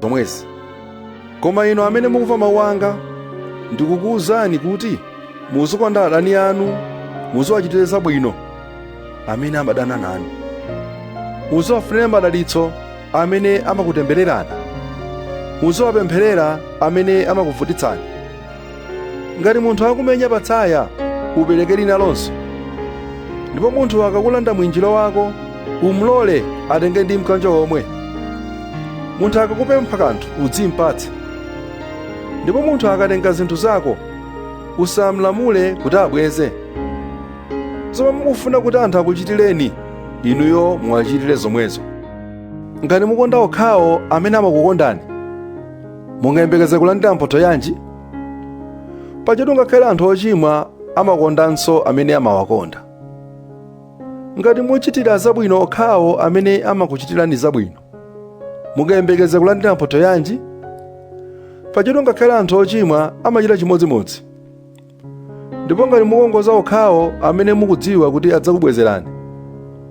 zomwezi koma inu amene mukumva mawu anga ndikukuwuzani kuti muzikonda adani anu muziwachitira zabwino amene amadana nanu muziwafunira madalitso amene amakutembererani muziwapempherera amene amakuvutitsani ngati munthu akumenya patsaya upereke linalonso ndipo munthu akakulanda mwinjiro wako umlole atenge ndi mkanjo womwe munthu akakupempha kanthu udzimpatse ndipo munthu akatenga zinthu zako usamlamule kuti abweze zomwe mukufuna kuti anthu akuchitireni inuyo muwachitire zomwezo Ngati mukonda okhawo amene amakukondani, mungayembekeze kulandira mphotho yanji? Pajatu ngakhale anthu ochimwa amakondanso amene amawakonda. Ngati muchitira zabwino okhawo amene amakuchitirani zabwino, mungayembekeze kulandira mphotho yanji? Pajatu ngakhale anthu ochimwa amachita chimodzimodzi. Ndipo ngati mukongoza okhawo amene mukudziwa kuti adzakubwezerani,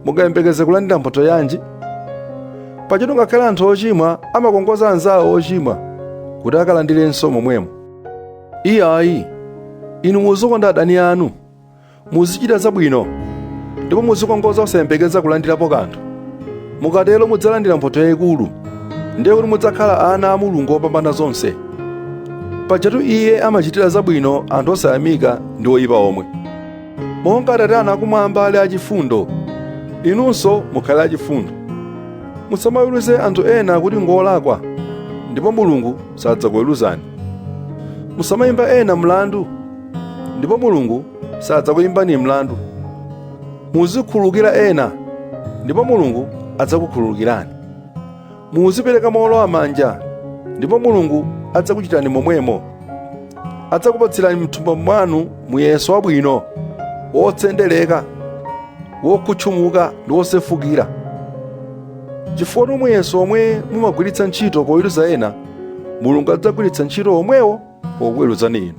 mungayembekeze kulandira mphotho yanji? Pajatu ngakhale anthu ochimwa amakongoza anzawo ochimwa kuti akalandirenso momwemo. Iyayi, inu muzikonda adani anu, muzichita zabwino, ndipo muzikongoza osayembekeza kulandirapo kanthu. Mukatero mudzalandira mphotho yayikulu, ndiye kuti mudzakhala ana a Mulungu wopambana zonse. pajatu iye amachitira zabwino anthu osayamika ndi oyipa omwe monga atate anu akumwamba ali achifundo inunso mukhale achifundo musamaweruze anthu ena kuti ngolakwa ndipo mulungu sadzakuweruzani musamayimba ena mlandu ndipo mulungu sadzakuyimbani mlandu muzikhululukira ena ndipo mulungu adzakukhululukirani muzipereka mowolowa manja ndipo mulungu adzakuchitani momwemo adzakupatsirani mthumba mwanu muyeso wabwino wotsendereka wokhutchumuka ndi wosefukira chifukwa ndi muyeso omwe mumagwiritsa ntchito poweruza ena mulungu adzagwiritsa ntchito omwewo pokuweruzani inu